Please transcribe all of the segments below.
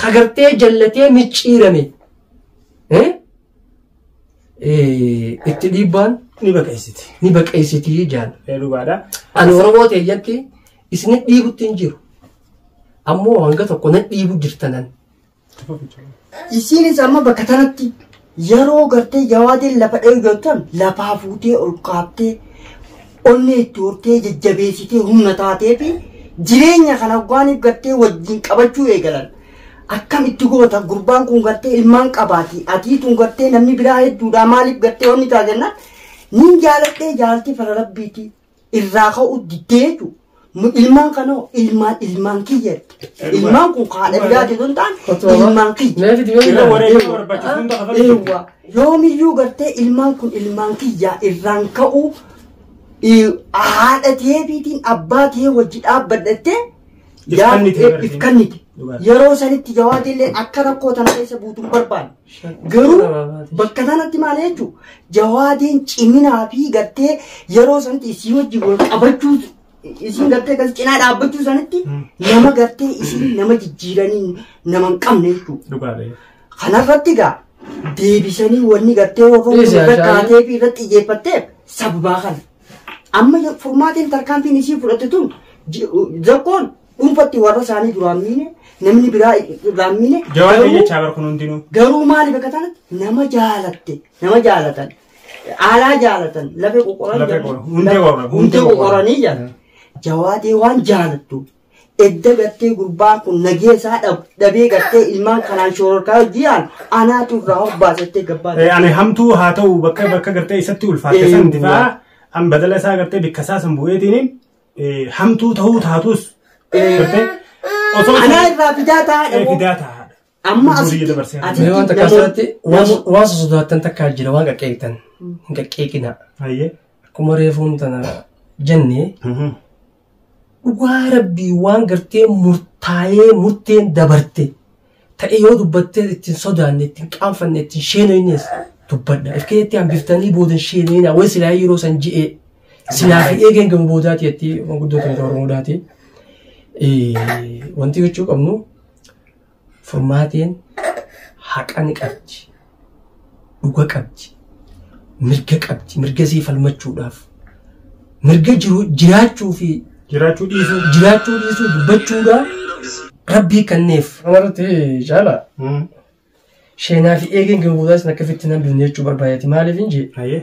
ka gartee jallatee micciirame eh, eh, itti dhiibbaan ni baqeessiti. ni baqeessitii jaan Ee dhugaadha. ani oromoo teeyyatti isin dhiibutti hin jiru ammoo hanga tokko na dhiibu jirtanan isiinis amma bakka tanatti Yeroo gartee jawaadeen lafa dhayu jettan lafaa fuutee ol kaabtee onnee itti hortee jajjabeessitee humna taatee fi jireenya kana hoggaaniif gartee wajjin qabachuu eegalan. Akkam itti goota gurbaan kun gartee ilmaan qabaati atii tun gartee namni biraa hedduudhaa maaliif gartee wanni taate jennaan niin jaaladhee jaalti fara rabbiiti irraa ka'uu diddee jechuudha. Nu ilmaan kanoo ilmaan ilmaan kiyya. Ilmaan kun kan haadha biraa keessa hin taane ilmaan kiyya. Meefi dibee Irra wareegama barbaachisu hunda kafaluuf Eewwa. Yoomiyyuu gartee ilmaan kun ilmaan kiyyaa irraan ka'uu eh, haadha teefiitiin abbaa tee wajji dhaabbadhattee Ifkannite yaa- gartee. ifkannite. Dhugaadha. Yeroo sanitti jawaadillee akka rakkoo tana keessa buutuun barbaanne. Garuu bakka sanatti maal jechuun jawaadeen ciminaa fi gartee yeroo sanatti isii wajjin wal qabachuu isiin gartee kan cinaa dhaabbachuu sanatti nama gartee isiin nama jijjiiranii nama hin qabne jechuudha. Dhugaadha. Kanarratti egaa deebisanii wanni gartee Dhiisi, wafamuun irra Ashaayii. kaatee fi irratti xiyyeeffatteef sababaa kana. Amma furmaatiin tarkaanfiin isii fudhatte tun ji- zakkoon Dhuunfatti warra isaanii duraan miine namni biraa irraan miine Jawaan garuu- jechaa bar kun hundinuu. garuu maaliif akka ta'an nama jaalatte nama jaalatan aalaa jaalatan lafee qoqoran Lafee qoqoran, hundee qoqoran, hundee hundee qoqoran. qoqoranii jedhan jawaatee waan jaalattu edda gartee gurbaa kun nagee isaa dhab- dhabee gartee ilmaan kanaan shoororkaa hojii yaal anaatu irraa hobbaasattee gabbaa Eh, Ani hamtuu haa ta'u bakka bakka gartee isatti ulfaatte san Eh, difaa an badala isaa gartee bikka isaa san bu'eetiin Eh, Hamtuu ta'uu taatus. Gartee? Osoo Anaa irraa fidaa Eh, taa'e moo? fidaa taa'aadha. Amma Durii asitti dabarsee ati Mee wanta namoota- kasaatti waan waan sosodaattan takkaa jira waan qaqqeeqtan hin qaqqeeqina Hayyee. akkuma reefuun tana jenne dhugaa rabbii waan gartee murtaa'ee murteen dabarte ta'e yoo dubbattee ittiin sodaanne ittiin qaanfanne ittiin sheenooynees dubbadha. If keessatti hambiftanii booda hin sheenooynaa way silaa yeroo san ji'ee silaa fi eegeen gama boodaati jetti manguddoo keenya Oromoodhaati. Wanti gochuu qabnu furmaateen haqa ni qabdi. dhuga qabdi mirga qabdi mirga isii falmachuudhaaf mirga jiru jiraachuu fi jiraachuu dhiisuu jiraachuu dhiisuu dubbachuudhaaf rabbii kanneef kanarratti caala sheenaa fi eegeen kan boodaa isin akka fitti nan binne jechuu barbaadati maaliif hin jee ayee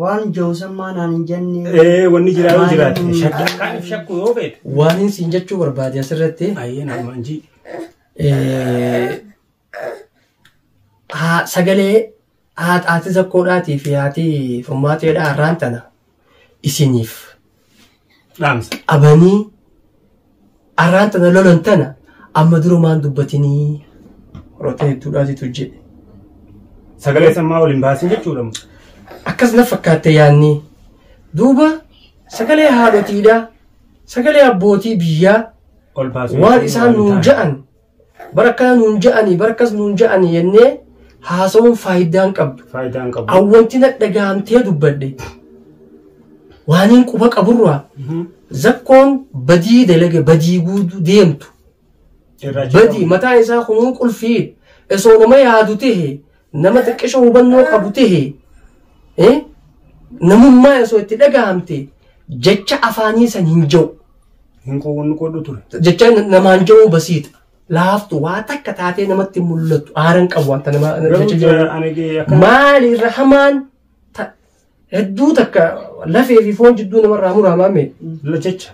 Waan jawsammaa naan hin jenne. Ee wanni jiraa yoo jiraate shakka kan shakku yoo beekte. Waan hin siin jechuu barbaade asirratti. Ayyee nama hin jii. Eh, haa- sagalee haat- haati zakkoodhaatii fi haati furmaateedhaa har'aan tana isiniif Dhaamsa. qabanii arraan tana lolan tana amma durumaan dubbatinii roota hedduudhaatitu jedhe Sagalee sammaa waliin baasin jechuudha. mo. akkas na fakkaatte yaanni duuba sagalee haadhotiidha sagalee abbootii biyyaa Ol baasin. waan isaan nuun ja'an Bar akkana nuun ja'anii bar akkas nuun ja'anii jennee haasawuun faayidaa hin qabdu. Faayidaa hin qabu. Awwanti na dhagahamtee dubbadhe waaniin quba qaburraa Mhm. zakkoon badii dalage badii guutuu deemtu. Irraa badii mataan isaa kunuu qulfii osoo nama yaadu ta'e Nama xiqqisho hubannoo qabu tahe eh, namummaa osoo itti dhagahamte jecha afaanii san hin ja'u. Hin qoodhu qoodhu ture. Jecha na- namaan ja'uu basiita. Laaftu waa takka taatee namatti hin mul'attu. Aaran qabu wanta nama jecha Garuu ja'u. ani akka Maali irra hamaan ta- Hedduu takka lafee fi foon jidduu namarraa muraamaa mee jecha.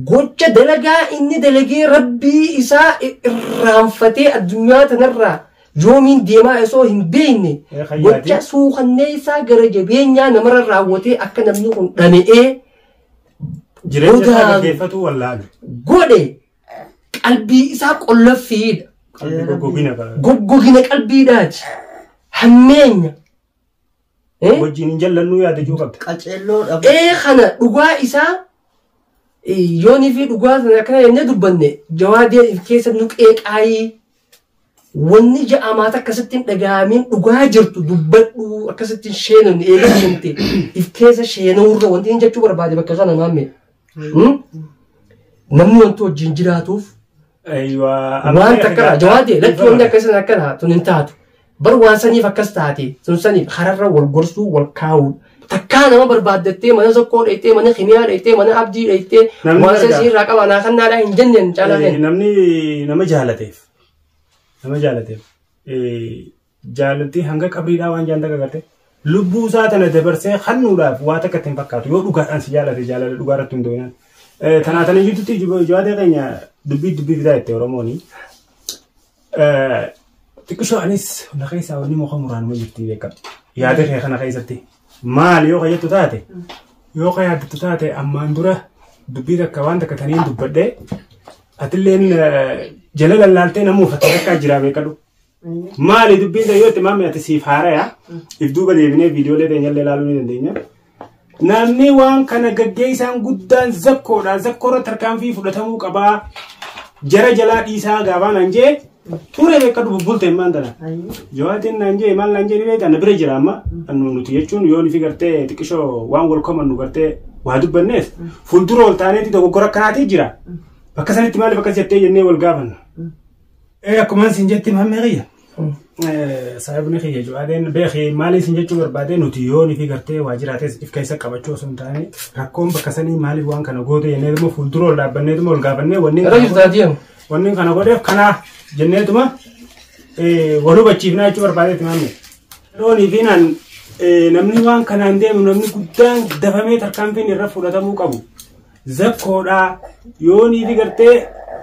Gocha dalagaa inni dalagee rabbii isaa irraanfatee addunyaa tanarraa yoomiin deemaa osoo hin beekne Ee, kan gocha yaadee. suukannee isaa gara jabeenyaa namarra raawwatee akka namni kun dhama'ee Jireenya isaa Godaanu. gaggeeffatuu wallaalu. godhe qalbii isaa qollaffiidha. Qalbii goggogina bara. Goggogina qalbiidhaati. Hammeenya. Eh? wajjin hin jallannuu yaada juu qabda. Qaceelloo dhabu. Ee kana dhugaa isaa eh, yoonii fi dhugaa sana akkana jennee dubbanne jawaadee if keessa nu qeeqaayii wanni ja'amaa takka sitti hin dhaga'amiin dhugaa jirtu dubbadhu akkasitti hin sheenamne eegaa sheenamte if keessa sheenawurra wanti hin jechuu barbaade bakka kana maamme Hmm? Namni wanti wajjin jiraatuuf Aywa. waan takka irraa jawaadee lakki wanti akkasii akkana tun hin taatu. Bar waan saniif akkas taate sun saniif hararra wal gorsuu wal kaa'uu. Takkaa nama barbaaddattee mana sokkoo dheettee mana kimiyaa dheettee mana abdii dheettee Namni waan gargaara. sasii irraa qaba naa kan naadhaa hin jenneen caalaa Eh, kenna. Namni nama jaalateef. Nama jaalateef. eh, Jaalalti hanga qabriidhaa waan jaan dagagate lubbuu isaa tana dabarsee kannuudhaaf waa takka ittiin fakkaatu yoo dhugaadhaan si jaalate jaalala dhugaa irratti hundooyinaan. Tanaa tana jirtutti jawaatee keenya dubbii dubbii fidaa itti Oromooni. Xiqqishoo anis na keessaa wanni muka muraanuma jirti beekama. Yaada kee kana keessatti maal yoo kayyattu taate yoo kayyattu taate ammaan dura dubbii takka waan takka taniin dubbadhee atilleen jala lallaaltee namuu fakkii takkaa jiraa beekadhu. Maali dubbiin ta'e yoo itti maamee ati siif haaraya if duuba deebinee viidiyoolee teenyallee ilaaluu ni dandeenya. Namni waan kana gaggeessaan guddaan zakkoodha. Zakkoo irratti tarkaanfii fudhatamuu qabaa. Jara jalaa dhiisaa gaafaan an jee ture beekadhu bubbulte immaan tana. Jawaatiin naan jee maal naan jee ni beekta na bira jira amma. Annu nuti jechuun yoo nuti gartee xiqqishoo waan wal komannu gartee waa dubbanneef fuuldura ol taaneeti dogoggora akkanaatii jira. Bakka sanitti maaliif akkas jettee jennee wal gaafanna. Ee akkuma isin jetti mammee kiyya. Sababni kiyya jechuudhaan beekee maal isin jechuu barbaade nuti yoo nuti gartee waajjiraatis if keessa qabachuu osoo hin taane rakkoon bakka sanii maaliif waan kana goote jenneetuma fuuldura ol dhaabbanneetuma ol gaafannee wanni Irra jirtu ati yamu. wanni kana godheef kanaa jenneetuma wal hubachiifnaa jechuu barbaadeetti maamne. Loonii fi naan namni waan kanaan deemu namni guddaan dafamee tarkaanfiin irra fudhatamuu qabu. zakkoodhaa yoo niifi gartee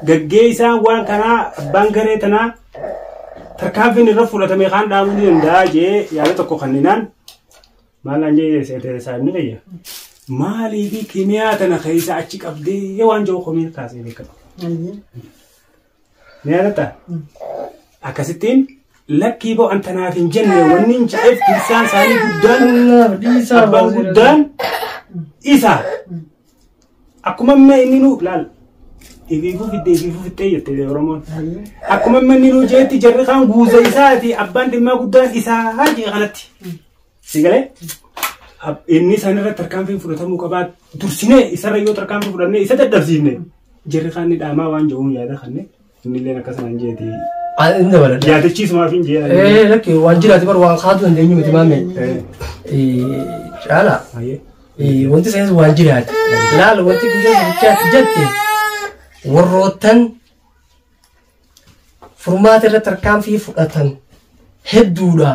gaggeessaan waan kanaa abbaan garee tanaa tarkaanfiin irra fudhatame kaan dhaabuu ni danda'a jee yaada tokko kanninaan maalaan jee seetee saayibni fayya maaliifi kimiyaa tana keessa achi qabdee waan jiru komiin kaasee beekama. Ni yaadatta? Akkasittiin lakkii boo anta naaf hin jenne wanni hin jedheef dursaan isaanii guddaan Wallaah dhiisaa abbaan baasee guddaan isa akkuma amma inni nu laal ibiifuu fiddee ibiifuu fixxee jette oromoon akkuma amma inni nu jeetti jarri kaan guuza isaati abbaan dhimmaa guddaan isaa jee kanatti Sigalee inni isaan irratti tarkaanfiin fudhatamuu qabaa dursinee isarra yoo tarkaanfii fudhannee isa dadhabsiifne jirri kaan ni dhaamaa waan jedhuun yaada kanne inni illee akka sanaan jeeti Inni dabalata. yaadachiisumaaf hin jeedan. Eh, lakki waan jiraate bar waan kaatu dandeenyu miti maame. Eh, Caala. Eh, Wanti isaanis waan jiraate. Laala wanti guyyaa guddaatti jette warroottan furmaata irra tarkaanfii fudhatan hedduudha.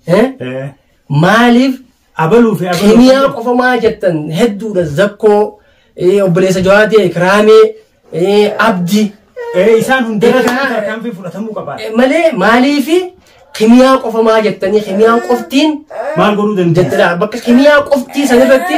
Eh? Eh, Maaliif abaluu fi abaluu. kimiyaa qofa maa jettan hedduudha zakkoo eh, obboleessa jawaatee kiraamee eh, abdi Eh, isaan hundarra Egaa- tarkaanfii fudhatamuu qaba. eh, malee maaliif kimiyaa qofa maa jettanii kimiyaan qoftiin Maal godhuu dandeenya? jettadha bakka kimiyaa qoftii sanirratti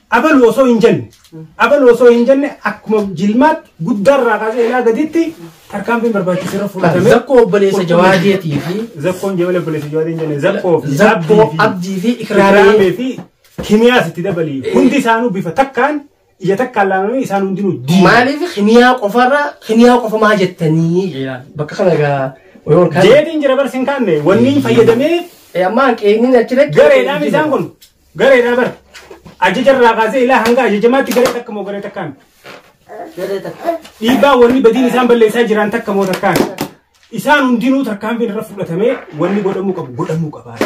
Abalu osoo hin jenne, abalu osoo hin jenne akkuma jilmaatti guddaa irraa kaasee ilaa gaditti tarkaanfiin barbaachisu irra fudhatame. Zakkoo obboleessa Jawaadeetii fi Zakkoon jabala obboleessa Jawaadee hin jenne, zakkoo fi Zakkoo, abdii fi Abdii fi Ikraamee. Ikraamee fi kimiyaas itti dabalii. Hundi isaanuu bifa takkaan ija takkaan laalamanii isaan hundinuu diina. maaliif kimiyaa qofarra kimiyaa qofa maa jettanii jedha. bakka kana egaa wayii ol kaa'e. Jeetiin jira barsi hin kaanne wanni hin fayyadamee Eh, ammaa qeeniin achi dhaqee. gareedhaan isaan kun Gareedhaa bar. Ajaja irraa kaasee ilaa hanga ajajamaatti garee takka moo garee takkaan. Garee takka. Dhiibbaa wanni badiin isaan balleessaa jiran takka moo takkaan. Isaan hundinuu tarkaanfiin irra fudhatamee wanni godhamuu qabu godhamuu qabaa.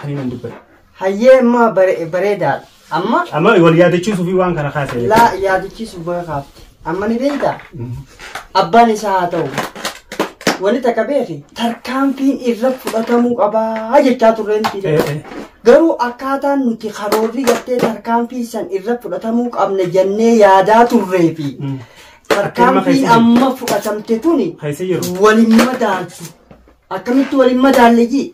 Kan inni dubbatu. Hayyee immoo bare- bareedaadha. Amma Amma wal yaadachiisuuf waan kana kaasee. laa yaadachiisuuf baga kaafte. Amma ni beektaa? Abbaan isaa haa ta'u. Wani takka beeki tarkaanfiin irra fudhatamuu qabaa jechaa turreen fide. Garuu akkaataan nuti karoorri gartee tarkaanfiin san irra fudhatamuu qabna jennee yaadaa turree fi tarkaanfiin amma fudhatamte tuni waliin madaaltu. Akkamitti waliin madaalle jii?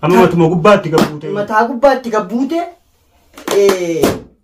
Amma matuma gubbaatti gabbuute. Mataa gubbaatti gabbuute.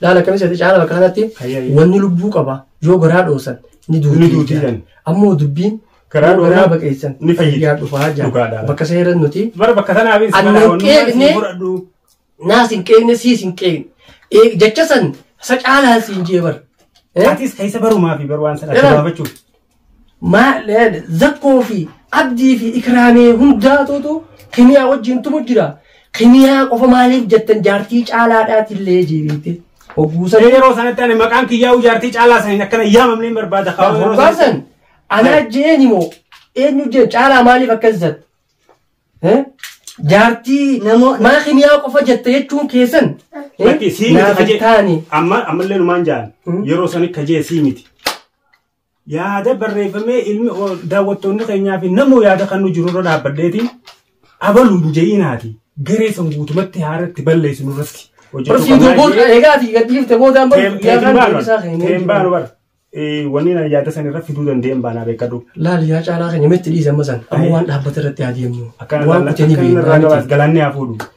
Laal akkamitti seete caala bakka kanatti Hayya, hayya. wanni lubbuu qaba yoo garaa dhoosan ni Ni duuti duuti jedhan. jedhan. Ammoo dubbiin Garaa yoo garaa dhoosan baqeessan ni fayyiti. fayyaa dhufaa jedhan. Dhugaadha. Bakka seera nuti Bara bakka sana abin Ani sibara wannu qeeqne. maati fudhadhu. naas hin qeegne siis hin qeegne. Ee, Jecha san sa caalaan siin jee bar. Eh? Atis keessa barumaa fi baru waan sana Jedhan. gabaabachuuf. Maal zakkoo fi abdii fi ikraamee hundaatuutu kimiyaa wajjin tumu jira. Kimiyaa qofa maaliif jettan jaartii caalaadhaatillee jeebeette. Hogguusan Mee yeroo sanatti ani maqaan kiyyaa'uu jaartii caalaa saniin akkana yaamamne hin barbaada kaa'u yeroo sanatti. hoggaasan anaa jeeni moo eenyu jeen caalaa maaliif akkas jette? Eh? Jaartii Namoo- maa kimiyaa qofa jette jechuun keessan eh? Lakki sii miti naaf hin kaje. taane. Amma ammallee numaan jaan Hmm. yeroo sanitti kajee sii miti. Yaada barreeffamee ilmi daawwattoonni keenyaa fi namuu yaada kan nu jiru irra dhaabbadheeti abalu hin je'inaati garee san guutumatti haaratti balleessinu irratti Barsiin durbuun egaa ati gad dhiifte boodaan baru guyyaa kaan deebisaa keenyee. Teembaan bara wanni na yaada san irra fiduu danda'een baanaa beekadhu. Laal yaa caalaa keenya metti dhiise amma san amma waan dhaabbata irratti haa deemnu. Akkan waan kutanii beeknaa miti. galaanni haa fuudhu.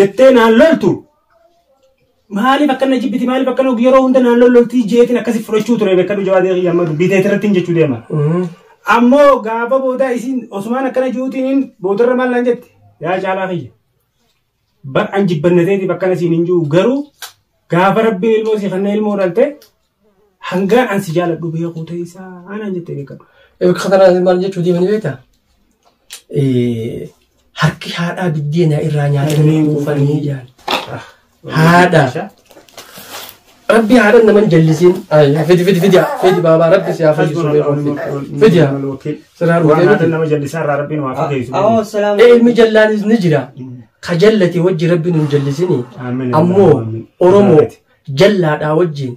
jettee naan loltu maaliif akka na jibbiti maaliif akka na yeroo hunda naan lololtii jeetiin akkasi fudhachuu ture beekadhu jawaadee kiyya amma dubbii teetii irratti hin jechuu deema. Ammoo gaafa boodaa isiin osumaan akkana jiruutiin boodarra maal naan jette yaa caalaa kiyya. Bar an jibbannateetiif akkana siin hin jiru garuu gaafa rabbiin ilmoo si kanna ilmoo dhalte Hangaan an si jaaladhu beekuu teessaa aanaan jettee beekadhu. Katanaa maal jechuu deemanii beektaa? Harki haadhaa biddeena irraa nyaatanii kuufanii jaan. Haadha. Rabbi haadha naman jallisiin. Fidi fidi fidi fidi baabaa rabbi si haa fayyisu beekuu fidi. Fidi haa. Siraa Waan dhufee haadha miti. nama jallisaa irraa rabbiin waa fageessu. Awoo Ee, salaam. Ilmi jallaanis ni jira. Ka jallate wajji rabbi nun jallisini. Ammoo Oromoo Jallaadhaa wajjiin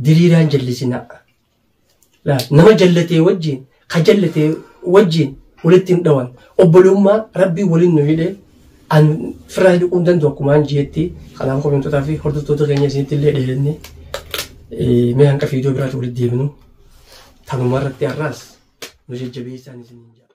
diriiraan jallisinaa. Laal, Nama jallatee wajjiin, ka jallatee wajjiin walitti hin dhawan. Obbolummaa Rabbii waliin nu hidhee an firraa hidhuu hin danda'u akkumaan jeetti. Kanaaf komentotaa fi hordoftoota keenya isinitti illee dheerenne. Eh, Mee hanqa fiidiyoo biraatti walitti deebinu. Tanuma irratti har'aas nu jajjabeessaan isiniin jedha.